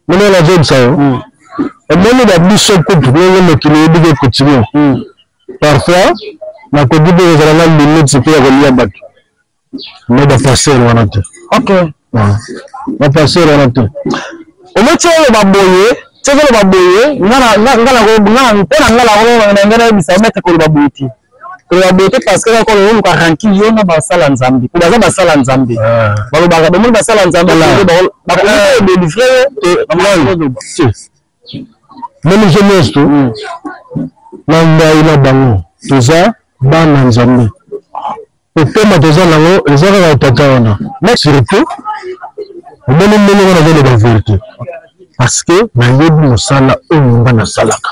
mona nazobisa yo omoni na biso kutu ndenge mokili oyebiki ekotini hmm. parfois nakoki mpe kozala na limite mpe ya kolia bato me baparcele wana te baparcele wana te omoti oloba boye soki oloba boye mpo na ngai nakoyebisa omete koloba boye te koloba boye te parce que kaka oluka ranki yo na basala nzambe po baza basala nzambe ah. balobaka bomoni basala nzambe bakodelivre meme je nyonso to hmm. na ngai na bango toza bana nzambe opema toza nango eza kaka etata wana na surtout omoni ndenge wana azoloba verité parce que nayebi mosala oyo nga nasalaka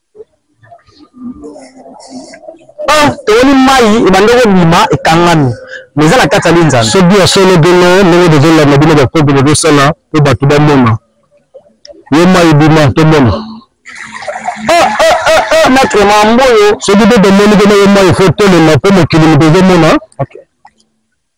Ah, tomoni mai ebanda kobima ekangami mais eza na kati ya linzana. Soki ya solo bino ndenge tozolanda bino bakopi tozosala mpo bato bamona yo mai ebima tomona ah, ah, ah, maitre mamboyo soki mpe tomoni kena yo mai fo tolema mpo mokili moto ezomona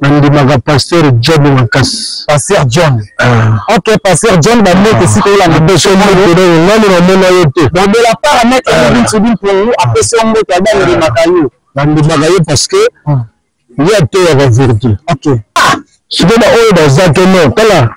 nandimaka pasteur john makasi pasteur john ah. ok pasteur john bamete esika ah. olanda besomonani namona yo te babela parametre ebinsobin ah. pongu apesi yo mbote ada ndimaka yo nandimaka ye parce que ye ateyaka verité ok sikoyo baoyo baza te non tala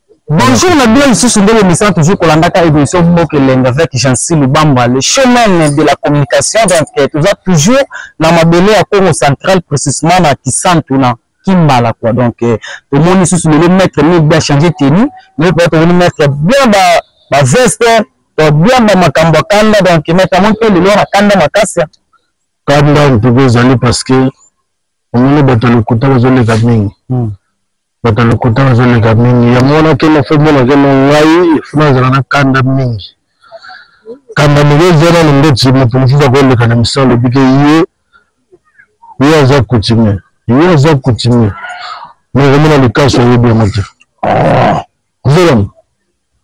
Bonjour na bino lisusu ndenge misana toujours kolandaka émission mboka elengi avec Jancy Lubamba le chemin de la communication donc euh, toza toujours na mabele ya Congo central précisément na Kisantu na Kimbala quoi donc euh, tomoni lisusu lelo maître mille bien changer tenue lelo peut-être tomoni maître bien ba ba veste to bien ba makambo ya kanda donc maître amoni mpe lelo na kanda makasi ya kanda mpe ezali parce que omoni bato ya lokuta bazoleka mingi Batu ya lokuta bazo leka mingi yango wana kema faut mona ke non ngai il faut nazala na kanda mingi kanda moke eza nanu ndeti moto mosusu akoleka na misala alobi ke ye ye aza coutumier ye aza coutumier mais okomona likasu oyebi yango te ozolama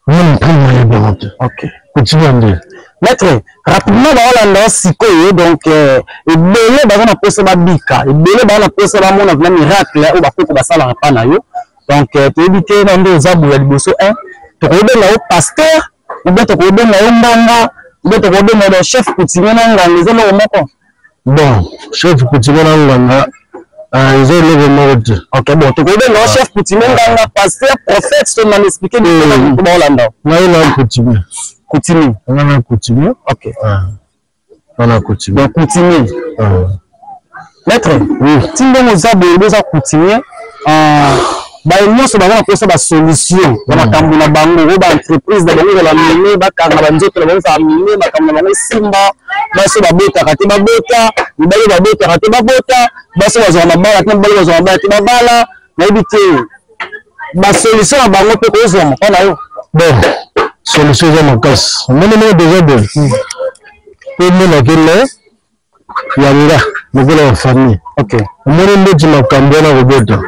Mimi prime ya bantu. OK. Continue nde. Maître, rapidement ba Hollande sikoyo donc euh, ebele baza na posa ba bika, ebele baza na posa ba mona vraiment miracle oyo ba koko basala na pa na yo. Donc euh, toyebi te na nde oza boya liboso un, tokobenga yo pasteur, ou bien tokobenga yo mbanga, ou bien tokobenga yo chef coutumier na nganga, eza loko moko. bon chef kutime na nganga euh, eza eloko moko te ok bon tokobenga ah. chef kutime nganga pasteur prophète to na expliquer ni ko ba olanda ngai na kutime kutime nga na kutime ok ah. nga na kutime donc kutime ah. maître oui tindongo za boye boza kutime baye nyonso baza na mposa basolution na makambo na bango oyo baentreprise na bango ezala mine bakanga banzoto na bango ezala mine makambo na bango esimba basi babotaka te babota mibali babotaka te babota basi bazwaka mabala te mibali bazwaka mabala te babala nayebi te basolution na bango mpe kozwama mpo na yo bon solution eza makasi omoni moko deja de mpo omonake le ya nga lokola ya famille okay. omoni ndeti makambo wana kobota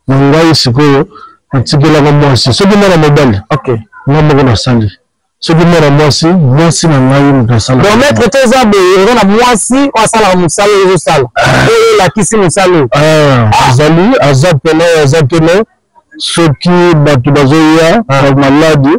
na ngai sikoyo natikelaka mwasi soki mwana mobali okay. nga moko nasali soki mwana mwasi mwasi na ngai moto asalaka maître te eza boye oza na mwasi oyo asalaka mosala oyo ozosala ah. oyo elakisi mosala oyo ah, ah. azali aza pena aza pena soki bato bazoya maladi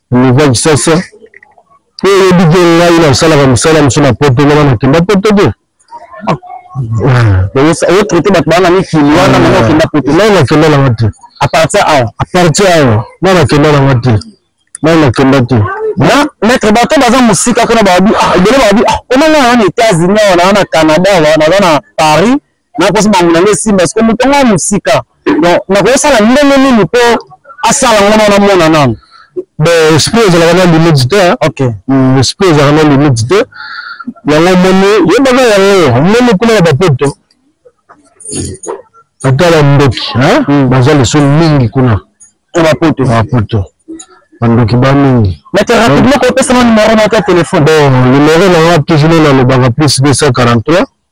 Oliver Kisasa po oyebi ke ngai nasalaka mosala mosu na poto wana nakenda poto te otraite bato baa na mikili wana mama okenda poto ngai nakenda nanga te apartir awa apartir awa ngai nakenda nanga te ngai nakenda te na maître bato baza mosika kuna babi ah, ebele babi ah, omanga wana etats-unis awa naa na canada awa naza na paris nakosi bango na ngai simba siko moto yango ya mosika donc nakosala ndenge nini mpo asala yango na namona nano bon esprit ezalaka na limite te okay. mm, esprit ezalaka na limite te yango omoni yebaka yango omoni kuna ya bapoto ata bandoki hmm. baza liso mingi kuna bapoto bapoto bandoki ba mingi mete rapidement kopesana numero moko ya telefone bon numero na nga toujours nalobaka plus 243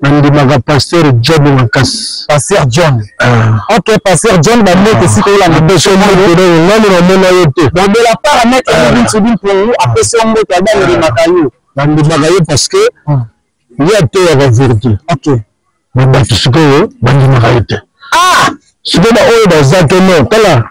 nandimaka pasteur john makasi pasteur john ah. ok pasteur john bamete esika olanda nani namona ye te babela parametre ebinsubi mpongu apesi yo mbote ada ndimaka yo bandimaka ye parce que ah. ye ateyaka verité ok na bato sikoyo bandimaka ye te ah! sikoyo baoyo baza te no tala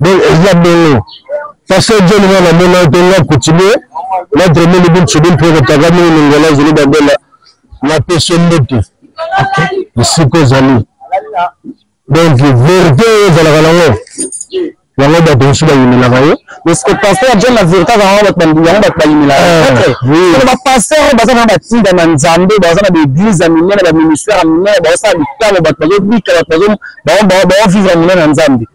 donc eza bongo pasteur john nga namona te nga coutumier notre moni bintu bintu ekotaka mingi mingola zulu babela na peso mbutu esika ozali donc verité oyo ezalaka nango yango bato mosusu bayimelaka ye parceke paster john na verité azalaka yango bato yango bato bayimelaka eh, bapaster oyo baza na batinda na nzambe baza na baeglise ya minene baministère ya minene baosala bitango bato bazobika bato baovivre minene na nzambe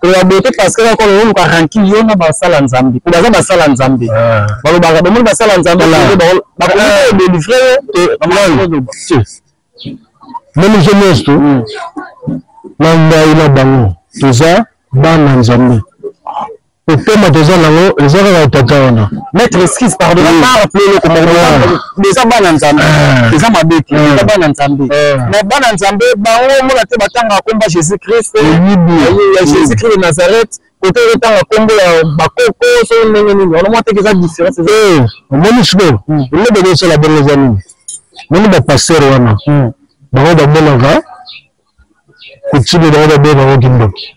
koloba boye te parce que kaka oluka ranki yo na basala nzambe po baza basala nzambe ah. balobaka bomoni basala nzambe bakodelivre meme je nyonso na ngai na bango toza bana nzambe Pema toza nango eza kaka etata wana maître excuse pardon na mara mpe eloko moko eza bana nzambe eza mabe te eza bana nzambe mais bana nzambe bango omona te batangaka komba jésus christ ya jésus christ de nazareth kote otanga kombo ya bakoko so ndenge nini wana mwa teke eza différence omoni sikoyo eloko ezosala bongo eza nini moni bapaster wana bango bamonaka kotime bango babengaka kindoki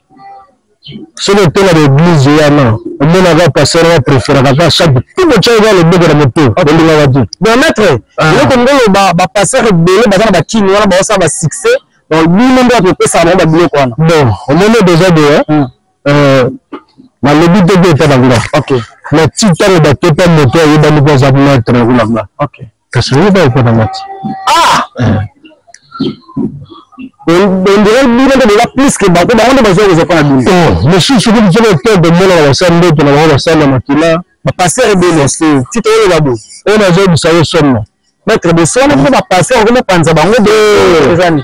soki otela na eglise wana omonaka pasteur wana preferaka ka chaque tout botya eza loboko na moto olingaka te bon maître ah. eloko ndolo bapasteur ebele baza na bakini wana baosala basuccès donc bino nde bakopesaka bango babiloko wana bon omoni deja de hmm. euh, nalobi te ko etala nga mais ti ntango batepa moto ayebani ko aza maître kuna nga kasi oyebi oyo mpo na mati ah ondire bino nde boza plus ke bango bango nde bazwa kozwa mpo na bino oh, mosusu soki bizoka epe komona na basali ndoto na bango basali na makila bapaster ebele tito oyo babo oyo nazoyebisa yo somo maître de somo mpe bapaster okomi opanza bango de ezani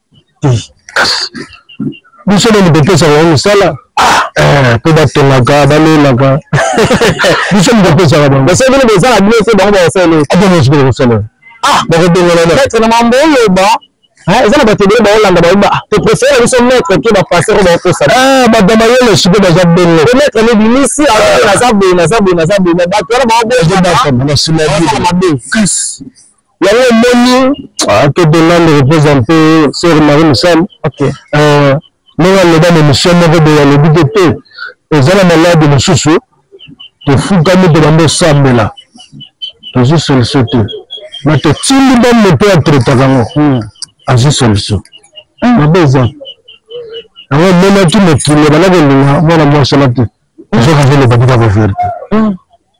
te biso nani bopesaka bango mosala mpe eh, batongaka balelaka biso nani bopesaka bango basala bino bozala bino te bango bakosala akonosikola kosala ah bakobengana na maître na mambo oloba eh, eza na bato ebele baolanda baoba toprefere biso maître ke bapasser oyo bakosala ah, bato mayele siko baza bongo po maître mobimisi ah. aza boye naza boye naza boye bato wana baoboyamabe yango omoni akede nande represente sœur marie misal ndenge aloba na émission moko boye alobi te te eza na maladi mosusu tofukami tobanda osambela tozwi solution te na totindi ba moto atretaka yango hmm. azwi solution hmm. mabe eza yango omonaki mokili ebanda kolinga mwana mwasi wana te ozoka zoloba kaka baverite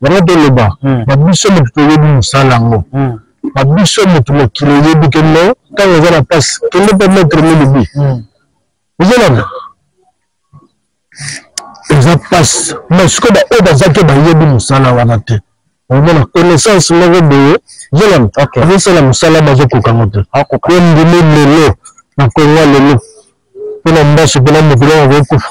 yango toloba hmm. na biso moto toyebi mosala yango hmm. na biso moto mokili oyebi kende ntango eza na mpasi kende mpe metre milibi hmm. ozolanda eza mpasi ma sikoyo baoyo baza te bayebi mosala wana te omona connaissance moko boye zolanda azosala mosala bazokokango te ondimi lelo na kongo lelo mpo na mbaso mpo na mokili yango akokufa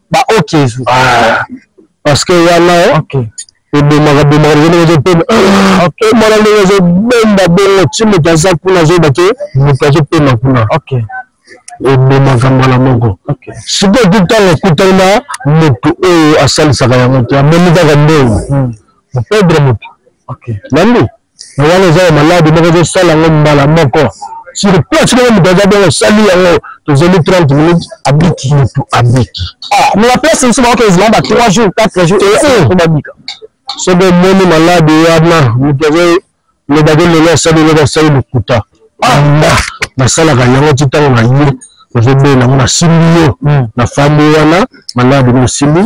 ba ok ezu ah. parce que wana ebomaka bomaka ndenge ndenge ezopema mwana ndenge ezobenda bongo ti moto aza kuna azoyeba ke moto azopema kuna ebomaka mbala moko sikoyo ti ntango ekutani na moto oyo asalisaka yango te amoni kaka ndenge mopedre moto nandi mais wana eza ya maladi moko ezosala yango mbala moko sur place moko moto aza bongo osali yango tozeli 30 minutes abiki motu abiki ah, mais na place mosusu baoka ezala ba 3 jours 4 jours eh, eh. po babika soki omoni maladi wana moto azolobaki lelo asali lelo asali lokuta ah! nga nasalaka yango ti ntango na ye ozobela yango nasimbi yo hmm. nafandi wana manda bino osimbi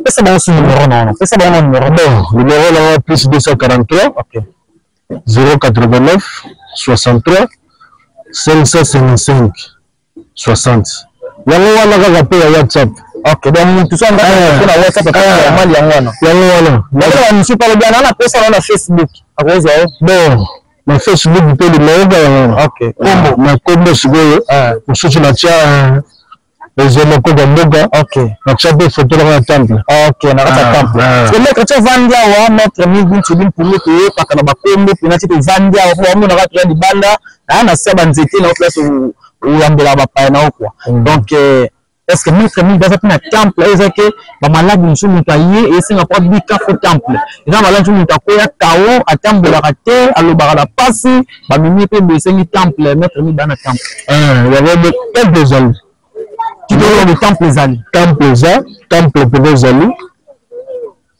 pesa bango su numero na wana pesa bango numero bon numero na wana plus 243 089 63 555 60 yango wana kaka mpe ya whatsapp ok donc motu so andaka eh. mpe na whatsapp akaa eh. mali yango wana yango wana naaa mosusu palobi ana na posa na na facebook akozwa yo bon na facebook mpe limeoka yango wana ok kombo ah, na kombo sikoyo ah. mosusu natya eza makoka mboka natya mpe foto nanga na temple nakati ya temple maître ti ovandi awa maître migi nsudi mpulu toyokaka na bakombo mpena ti tovandi awa mpo bamonaka toya libanda aya na sia banzete na yo place oyambela bapaya na yo kua mm. donc euh, parce que maître mingi baza mpe na temple oyo eza ke bamaladi mosusu moto aye esenga mpo abika fo temple eza maladi mosusu moto akoya kao atambolaka te alobaka na mpasi bamemi mpe boye esengi temple maître mingi baa na temple eh, temple ezali kitolobi temple ezali temple eza temple mpenza ezali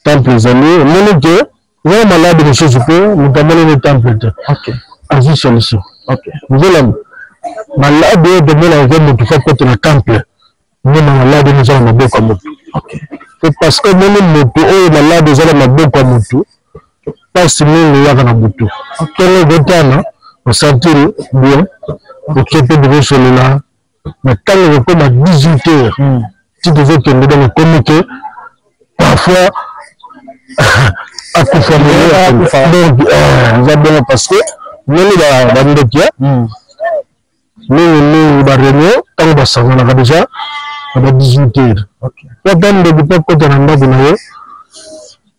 temple ezali omoni ke Oza malade lisusu mpo moto amonani temple te. Ok. Azwi solution. Ok. Ozolanda. Malade oyo tomona eza moto fa kote na temple. Mona malade oyo eza na maboko ya moto. Ok. Mpo parce que omoni moto oyo malade eza na maboko ya moto mpasi mingi eyaka na butu. Ntongo ekotana osantiri bien oke mpe bokosolola na ntango ekokoma 18 heures hmm. ti tozokende donc ekomi ke parfois akufa donc euh, eza bongo parce que ndenge bandoki hmm. mingi mingi bareunion ntango basanganaka deja na ba 18 heures po ata ndoki mpo akota na ndako na ye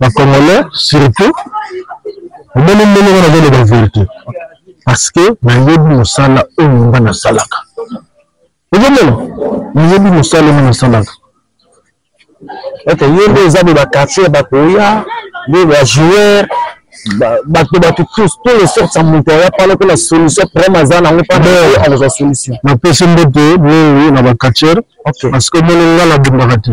ba congolais surtout omoni ndenge nga nazoloba verité parce que nayebi mosala oyo nga nasalaka ozomona nayebi mosala oyo nasalaka ete ye nde eza boye bakartier bakoya nde bajoueur bato bato tous tous les sortes ya moto aya pala mpo na solution problème aza nango pale akozwa solution napesi mbote mingi na bakartier parce que omoni nga nabundaka te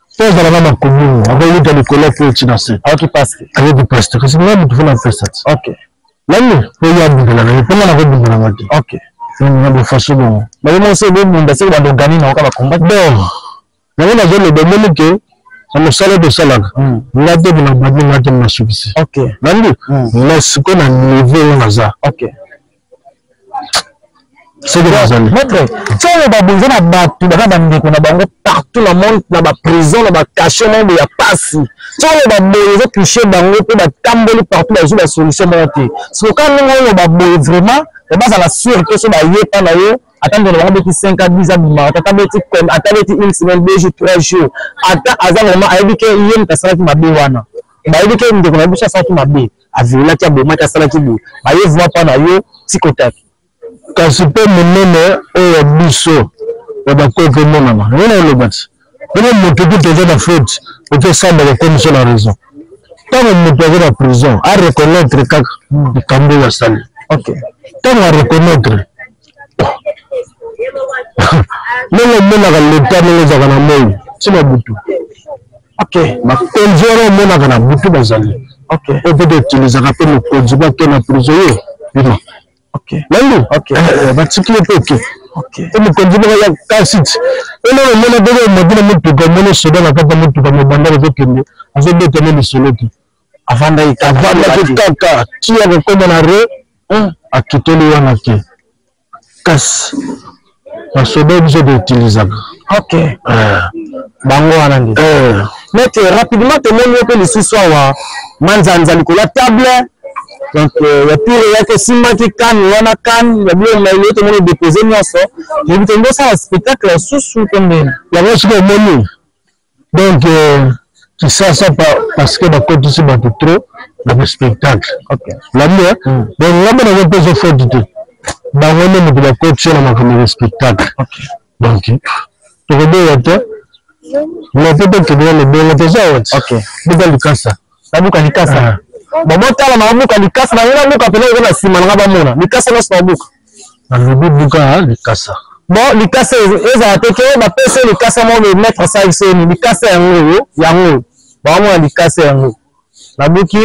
mpo azala na makomini akoyuta likolo mpo eti na se ayoki paste ayebi paste kasi ngai moto mpo na pesa ti okay nani mpo ye abundela na ye mpo ngai nakobundela nga te okay na bofaso bongo baye monse bobunda seke bandogani na oka bakomba bon yango nazoloba omoni ke na mosala tosalaka hmm. nga te mpo na bandi nga te mnasukisi nandi hmm. mais sikoyo na niveau oyo naza maître ntango babonza na bato baza bandeko na bango partout na monde na baprison na bacachet moko ya pasi ntango baboye eza touche bango mpe batamboli partout bazwi basolution moko te soka ndenge oyo baboye vraiment bazala sur te so bayepa na yo ata ndeko na bango beti 5 a 10 abima ata beti ata beti une semaine deux jours trois jours ata aza vraiment ayebi ke ye moto asalaki mabe wana bayebi ke ndeko na biso asalaki mabe aviolaki abomaki asalaki boye baye vua mpa na yo tikotaki kasi mpe monene oyo ya biso ya bakoki komonana yango na olobaki mpona moto kutu oza na faute okesamba kokomisa na raison ntango moto aza na prison areconnaitre kaka likambo oyo asali ntango areconnaitre ndenge omonaka leta ndenge ezalaka na moi ntina butu bakonzi wana omonaka na butu bazali oyo mpe toutilisaka mpe mokonzi bake na prizo yo bima nandu batiki ye mpe oke mpe mokonzi moko ya kasiti ona omona ndenge omaki na motuka omoni soda na kati ya motuka mobanda ezokende azobeta ne lisolo te avandaki kaka ti akokoma na re akitoli wana te kasi basoda biso toutilisaka ok eh. bango wana nde eh. mete rapidement tomoni yo mpe lisusu awa manzanza likolo ya table donc euh, ya tour eyaki esimbaki kane wana kane ya biloko nayo tomoni depose nyonso yebi te ndosala spectacle lisusu to ndeni yango soki omoni donc euh, kisasa pa, parce que bakotisi bato trop na baspectacle lamu eh? hmm. donc nga mpe nazopesa faute te bango nde moto bakotisi na makambo ya spectacle donc tokoboya te mais mpe tokende na libongo toza wati buka likasa babuka likasa ah. babotala na babuka likasa na yo nabuka mpena eza na nsima na nga bamona likasa nyonso babuka alobi buka likasa bon likasa ezala te ke bapesi yo likasa moko boye maître asali soni likasa yango oyo yango oyo baomona likasa yango nabuki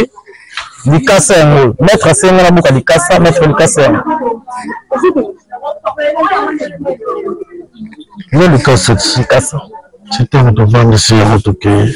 likasa yango oyo maître asenga nabuka likasa maître likasa yango yo likasa likasa ti ntango tovandisi yango tokei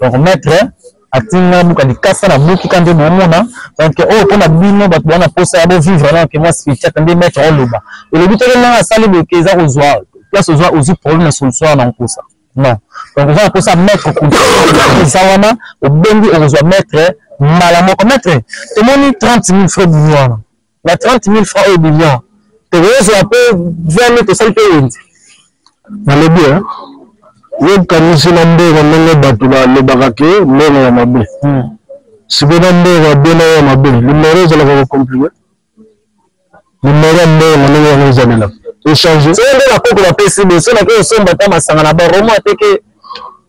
donc maître atindi nga nabuka likasa nabuki ka nde boomona donc oyo oh, mpo na bino bato baa na mposa ya bovivre na ke mwa spirituate nde maître oloba elobi teke ndenge asali boke eza kozwa place ozwa ozwi problème ya solution wana nkosa non donc oza na mposa ya maître eza wana obengi okozwa maître mbala moko maître tomoni 30 000 frais bini wana na 30 mille franc oyo ebimi awa tokozwa mpe 20 mille tosali mpe wenze nalobi eh? yokanisi na mbongo ndenge bato balobaka ke mbongo ya mabe hmm. sikoyo na mbongo ya bino ya mabe limero ezalaka kocomplike limero ya mbongo ndenge yango ezalela echange soki nde bakoko bapesi biso nake osomba ata masanga na baroma ateke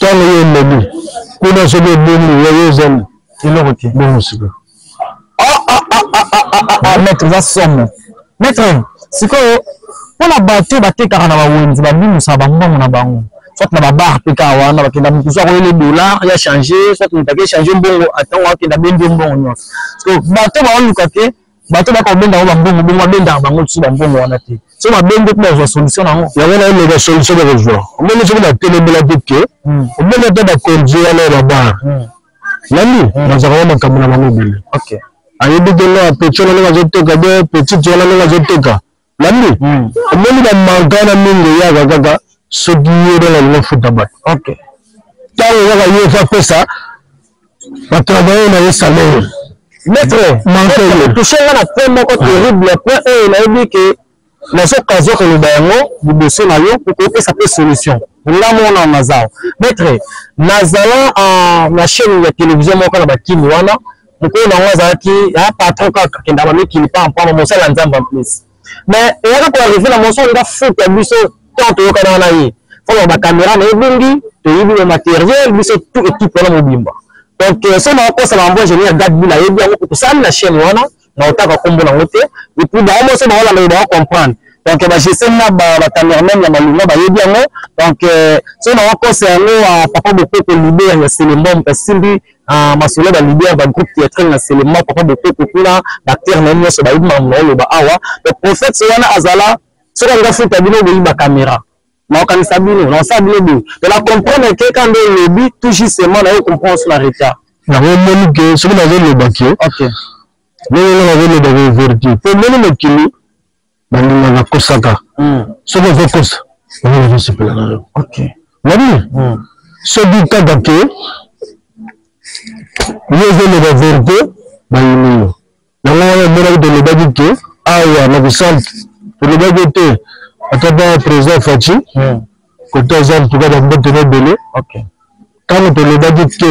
Tango yo olembi kuna soki obungi yo yo ozali eloko te bongo sika maître eza somo maître sikoyo mpo na bato oyo batekaka na bawenze babimisaka bambongo na bango soit na babar mpe kaka wana bakenda moto so akoyele dollar ya change soit moto ake change mbongo atango akenda bendi mbongo nyonso sikoyo bato baoluka te bato baka obenda yango bambongo bongo abendaka bango lisusu bambongo wana te so babenge mpe bazwa solution na yango yango na eleka solution bakozwa omoni soki batelemela te ke hmm. omoni ata bakonzi wana ya babar hmm. nani hmm. bazalaka makambo na bango ebele ayebi te nga petit wana ndenge azoteka be petit wana ndenge azoteka Landi, hmm. omoni ba manka na mingi eyaka kaka soki ye nde nalingi ofuta bato. Okay. Ntango kaka ye efa pesa batravaye na ye salaire. Maître, manka yo. Touche nga na point moko terrible, point oyo nayebi ke nazokazwa koloba yango liboso na yo mpo kopesa mpe solution ngambo wana naza maître nazala na chaîne ya télévision moko na bakini wana mokolo na yango azalaki ya patron kaka kenda bamikili pa mpamba mosala ya nzambe en plus mais eyaka koarrive na moso nga futa biso tant toyokana wana ye fona bakamera na ebungi toyebi na materiel biso tout équipe wana mobimba donc euh, so nakokosa bango ingénieur gadbul ayebi yango kotosali na chaîne wana na otaka nkombo nango te epuis bango moso baolanda bako comprendre donc bagestion na bacamerman ya malonga bayebi yango donc euh, so nakokosa yango papa bokoko libe ya selembom esimbi Ah, masolo ba leader ba groupe theatrale na selema papa bokoko kuna ba terre na nyonso ba yima mo loba awa le prophète wana azala soki anga futa bino boyiba camera na okanisa bino na sa bino boye de la comprendre que quand on lobi tout justement na yo comprendre sur la retard na ko moni que soki na zo loba que OK lelo na zo loba ko vertu pour moni mokili baninga bakosaka soki ozokosa yango nazosepela na yo nabi soki kaka ke yo ozoloba verite bayini yo yango wana omonaki tolobaki ke awa na bisantu tolobaki te ata ba président faci kote aza ntuka bambote na ebele ntango tolobaki te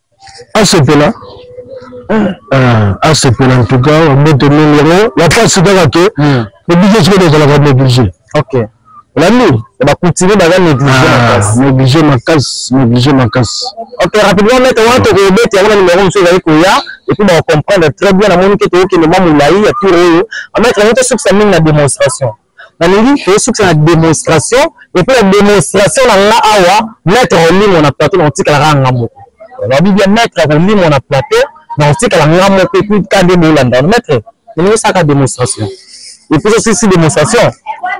asepela ah, asepela ntuka babote mingi yango bapasi kaka ke hmm. oblige sikoyo ezalaka néglige ok olandi bakultive baza néglige ah, makasi néglige makasi ok rapidement mete wana tokobeti yango na numero mosusu ezali koya epuis bakocomprendre très bien namoni ke tokokende mwa molai ya tour oyo ametre yango tosukisa mingi na démonstration nalingi tosukisa na demonstration epuis na demonstration na nga awa maître akolimwa na plateau nakotikala kaka nga moko olobi bien maître akolimwa na plateau nakotikala nga moko epuis ka nde bolanda wana maître elingi osaka demonstration epuis osilisi demonstration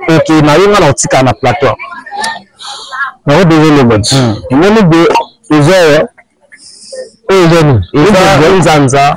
oke na yo nga nakotikala na plateau nako désolé bon hmm. emoni de eza oyo eza nini eza nzanza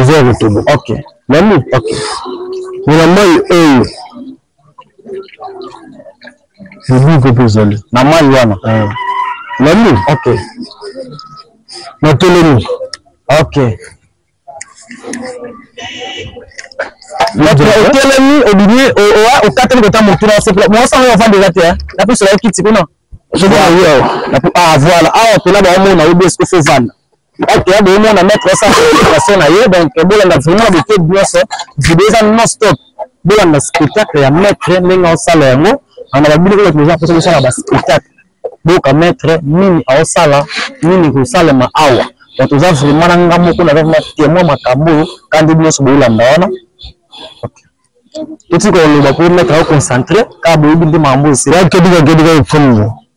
eza ya kotobo ok nani ok mona mai oyo lobiko mpe ezali na mai wana eh. nani ok natelemi ok otelemi obimi okateli kota motu na sokola mwasi yango ofandi eza te napisola yo kiti kuna ah voilà awa pena baomona yo biesko fo vanda Batu ya bomo na mettre ça sur na ye donc bolanda vraiment de tout nyonso video eza non stop bolanda spectacle ya maître ndenge osala yango ana babili kaka toza mposa kosala ba spectacle boka maître nini aosala nini kosalema awa donc toza vraiment na nga moko naza vraiment témoin makambo oyo kandi nyonso bolanda wana totika koloba po maître aoconcentre kaka boyebi nde makambo oyo sila kebika kebika efomu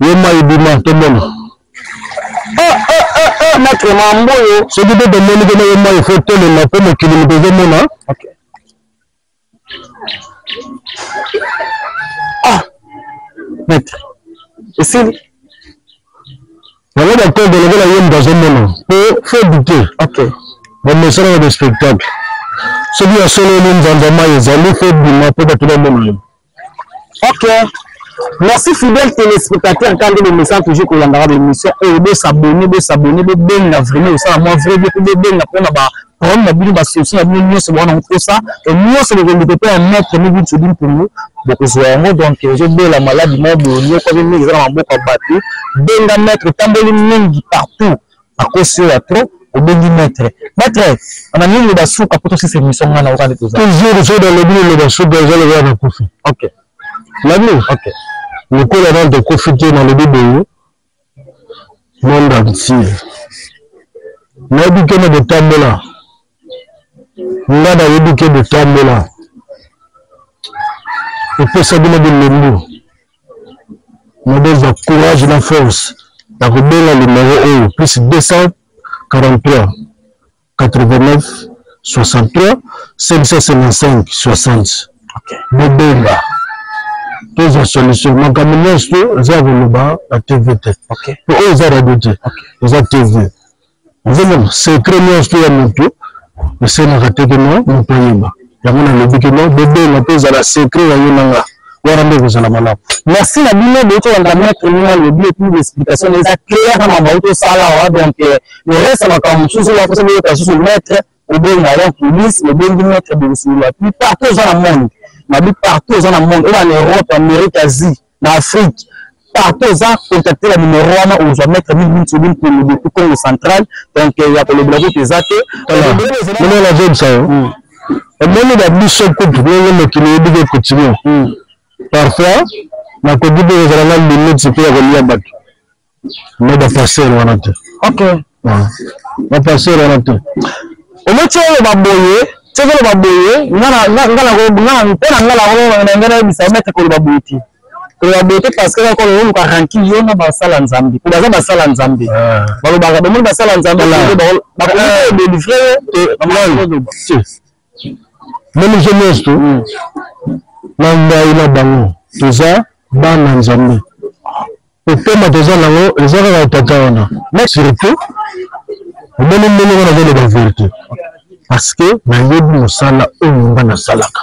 yo mai bima tomona ah, ah, ah, matre mambo oyo soki mpe tomoni kena yo mai fo tolema mpo mokili moto ezomona matre esili yango bakobe lokola ye moto azomona mpo fo dute bamesana na bespectacle soki ya solo ni nzanza mai ezali fo bima mpo bato bamona yo ok merci fidèle téléspectateur kande bomesana toujours kolandaka baémission oyo bosabone bosabone bobenga vraiment osala mwa vrai boko bobenga mpona ba problème na bino basolution na bino nyonso bowana kokosa nyonso bokoleka mpe ya maître mibi nsodi mpungu bokozwa yango donc ozobela maladi moko boye nyoko ape mingi eza na maboko ya bato benga maître etamboli mingi partout akosi oyo ya trop obengi maître maître ana nini loba suka po tosisa émission nga na okani toza toujours soki alobi liloba suka eza lokola na kufi ok lami ok lokola nani tokufi te nalobi boye monde entier nayebi kende kotambola nga nayebi ke botambola epesa bino bilembu nabozwa courage na force ya kobenga limero oyo plus 243 89 63 555 60 bobenga tozwa solution makambo nyonso eza koloba na tv te po oyo eza radio te eza tv ozomona secret nyonso ya moto esenaka te ke no moto ayeba yango nalobi ke no bobenga mpe ezala secret ya yo na nga wana nde ekozala malamu merci na bino boyuti kolanda maître nini alobi epuis l'explication na eza claire na makambo auti osala awa donc euh, le reste ya makambo mosusu oyo akosa boyoka susu maître obenga donc police obengi maître bokosolola puis partout oza na monde nabi partout oza na monde oyo na europe amerique asie na Afrique partout oza contacte na numero wana ozwa maître mingi mingi sobi mpungu depuis congo central donc euh, ya kolobela kutu eza te mona nazobisa yo omoni ba biso kutu ndenge mokili oyebiki ekontinue parfois nakoki mpe kozala na limite mpe ya kolia bato me ba pasteur wana te ok ba pasteur wana te ometi oloba boye soki oloba boye nga na nga na mpo na nga na nga nayebisa omete koloba boye te koloba boye te parce que kaka oluka ranki yo na basala nzambe po baza basala nzambe ah. balobaka bamoni basala nzambe bakomi kodelivre yo na miso nyonso to na ngai na bango toza bana nzambe kopema toza nango eza kaka tata wana na surtout omoni ndenge wana azoloba verité parce que nayebi mosala oyo nga nasalaka